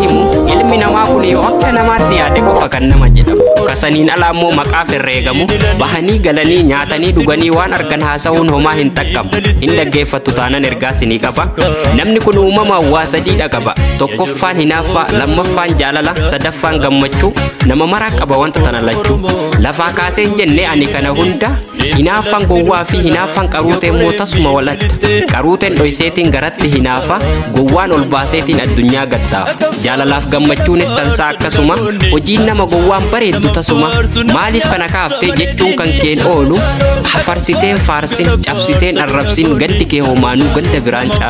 himu ilmi namaa kun yoo akka namaatti yaade qofa kan nama jedhamu kasaniin alaa immoo maqaaf herreegamu bahanii galanii nyaatanii dhuganii waan argan haasa'uun homaa hin xaqqabu hin dhaggeeffattu taanan ergaas ni qaba namni kun uumama waa sadiidha qaba tokkoffaan hinaaf tokkoffaa lammaffaan jaalala sadaffaan gammachuu nama maraa qaba wanta tana lachuu lafaa kaaseen jennee ani kana hunda hinaaffaan gowwaa fi hinaaffaan qaruutee immoo tasuma waladha qaruuteen dhoyseetiin garatti hinaafa gowwaan ol baaseetiin addunyaa gattaafa jaalalaaf gammachuunis tansaa akkasuma hojiin nama gowwaan bareeddu tasuma maaliif kana kaaftee jechuun kan keen oolu hafarsiteen faarsin cabsiteen arrabsin gaddi kee homaanuu ganda biraan caalu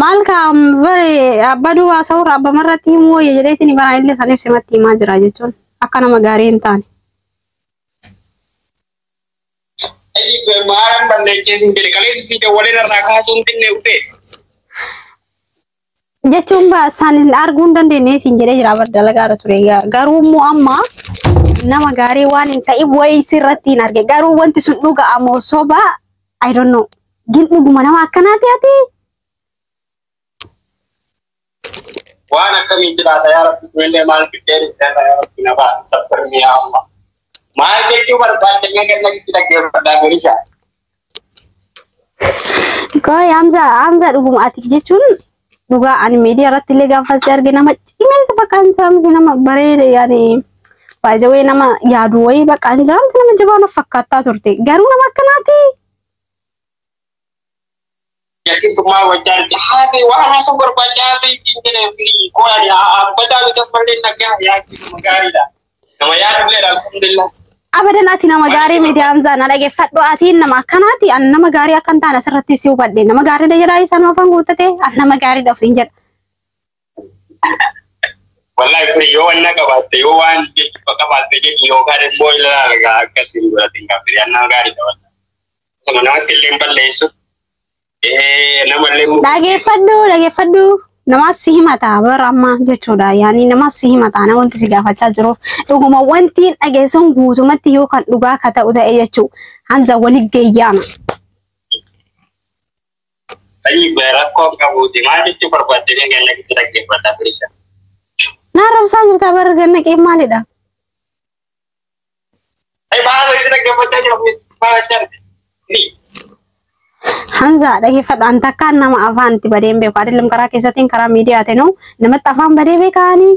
Maal kaa'am bare abbaa duwwaa sa'uurra abbama irratti himuu wayya jedheetiin baraan illee san ibse matti himaa jira jechuun akka nama gaarii hin taane. Maaran balleechee sin jedhe kaleessa si dawwalee narraa kaasuun xinne ufee. jechuun ba- isaan hin arguu hin dandeenye siin jedhee jira bar dalagaa irra ture Ga- garuu immoo amma nama gaarii waan hin ta'in wayii sirratti hin arge garuu wanti sun dhugaa moo soba I don't know gin dhuguma nama akkanaati ati Waan akkamiitti laata yaa rabbi kunillee maal fiddee dhufteerra yaa rabbi na baasi saffirni yaa amma. Maal jechuu barbaadde mee ganna si dhaggeeffadhaa golisha. Koi Hamza Hamza dhuguma ati jechuun dhugaa ani miidiyaa irratti illee gaafa si arge nama cimeessa bakka hin jiraamne nama bareeda yaani baay'ee nama yaadu wayii bakka hin jiraamne nama jabaa na fakkaattaa turte garuu nama akkanaati Yakkintummaa wajjin arge haasee waan haasuu barbaadde haasee siin jedhee fi qo'ani abbataa bita malee nagaa yaaddu nama gaariidha. Nama yaadulleedha alhamdulillah. Abadan ati nama gaarii miti Hamzaa na dhaggeeffadhu ati nama akkanaati an nama gaarii akkan taane asirratti si hubadhe nama gaariidha jedhaa isaan afaan guuttate an nama gaariidha ofiin jedha. Wallahi kun yoo wanna qabaatte yoo waan jechuudha qabaatte jedhi yookaan immoo ilaala gaa akkasii godhate hin qabdu yannaa gaarii qabata. Osuma namatti illee hin balleessu. Nama illee hin Dhageeffadhu dhageeffadhu namaas si himata bara amma jechuudha yaani namaas si himata na wanti si gaafachaa jiruuf dhuguma wanti hin dhageessuun guutumatti yoo kan dhugaa ka ta'u ta'e jechuu Hamza wali geeyyaama. Ayi gue rakkoo qabuuti maal jechuu barbaadde mee ganna keessa dhaggeeffata bilisha. Na arrabsaa jirtaa bara ganna qeen maalidha? Ayi maal keessa dhaggeeffachaa jira kun maal jechaa jirti? Ni. Hamza dhaggeeffadhu an takkaan nama afaan itti badeen beeku adeellam karaa keessatiin karaa miidiyaatiin namatti afaan badee beekaanii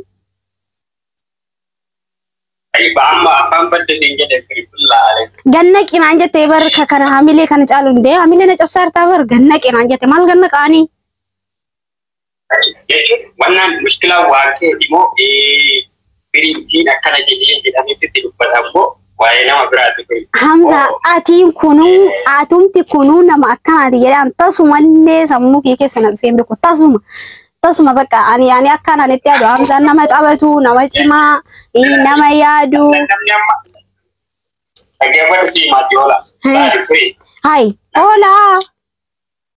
Ayba amma afaan badde siin jedhe bilbila ale. Ganna qinaan jettee bar ka kana hamilee kana caalu hin deemu. Hamilee na cabsaa hartaa bar ganna qinaan jette maal ganna qaanii. Jechuun wannaan mushkilaa waan ta'eef immoo firii isiin akkana jedhee jedhamee sitti dubbata immoo waa'ee nama biraati kun. Hamza atiin kunuu atumti kunuu nama akkanaati jedhaan tasumallee sammuu kee keessa na dhufee hin beeku tasuma tasuma bakka ani ani akkaan ani itti yaadu Hamzaan nama taphatu nama cimaa ii, nama yaadu Namni amma dhaggeeffadhu sii maatti oola. Saadi firii. hayi hoolaa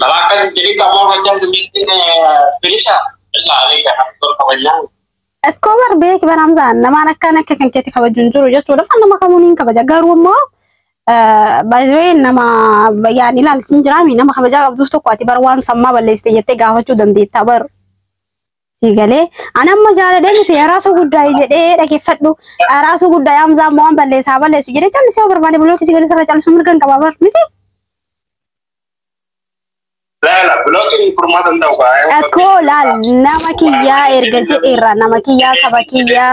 Balaa kan jedhi qabu hojjaan dumittiin firisha illaa aleega kan tol kabajaan. Akkoo bar beeki bar Hamzaan namaan akkaan akka kan keetti kabaju hin jiru jechuudha. Kan nama kamuun hin kabaja garuu immoo baay'ee nama yaan ilaaltiin jiraami nama kabajaa qabduuf tokko ati bar waan sammaa balleessite jettee gaafachuu dandeetta bar. Sii galee an amma jaaladhee miti araasuu guddaa jedhee dhaggeeffadhu araasuu guddaa yaamsaa immoo waan balleessaa balleessu jedhee callisee yoo barbaade bilookii sii galee sarara callisuu mirga hin qabaa bar miti. Laala bilookiin furmaata hin ta'u kaa. Akkoo laal nama kiyyaa erga jedheerra nama kiyyaa saba kiyyaa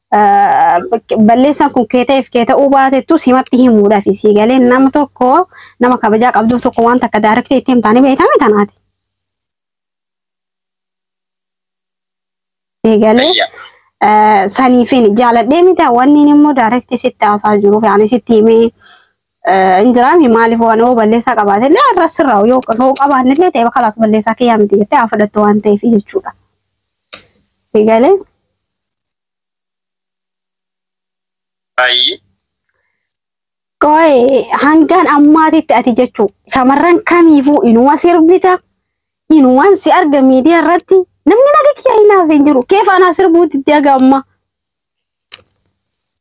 balleessaan kun kee ta'eef kee ta'uu baatettu simatti himuudhaaf isii galee nama tokko nama kabajaa qabdu tokko waan takka daarektee itti himtaanii beekame tanaati. Galee saniifin jaaladhee miti wanni immoo daarektii sitti haasaa jiruuf yaani sitti himee hin jiraami maaliif waan yoo balleessaa qabaate illee irra sirraa yoo qabaanne illee ta'e bakka laas balleessaa kiyyaa miti jettee haa fudhattu waan ta'eef jechuudha. Sigalee. Baay'ee. Qo'ee hangaan ammaatitti ati jechuu shamarran kamiifuu inuma sirbita inuman si arga miidiyaa irratti namni naga kiyyaa hinaaf hin jiru kee faanaa sirbuu diddee haga ammaa.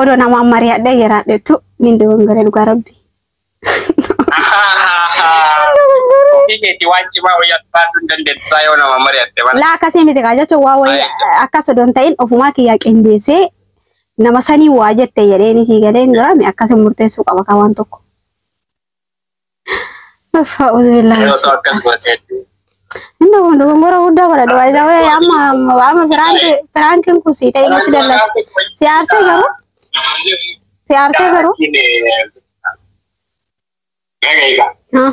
Odoo namaan mari'adhee jiraadhetu nin dogongore dhugaa rabbi. Ofii keetii waan cimaa wayii as baasuu hin dandeettu saa yoo nama mari'atte mana. Laa akkasii miti kaa jechuun waa wayii Baay'ee. akkas odoon ta'in ofumaa kiyyaa qindeessee nama sanii waa jette jedheen isii galeen jiraame akkasii murteessuu qaba kaa waan tokko. Uffa uzbillah. Yoo ta'u akkas godhe hedduu. Inni kun dogongora guddaa godha dhugaa isaa wayii amma amma amma firaanki firaankiin kun sii ta'e masi dallas. Si aarsee garuu si aarsee garuu. Egaa egaa. Ah.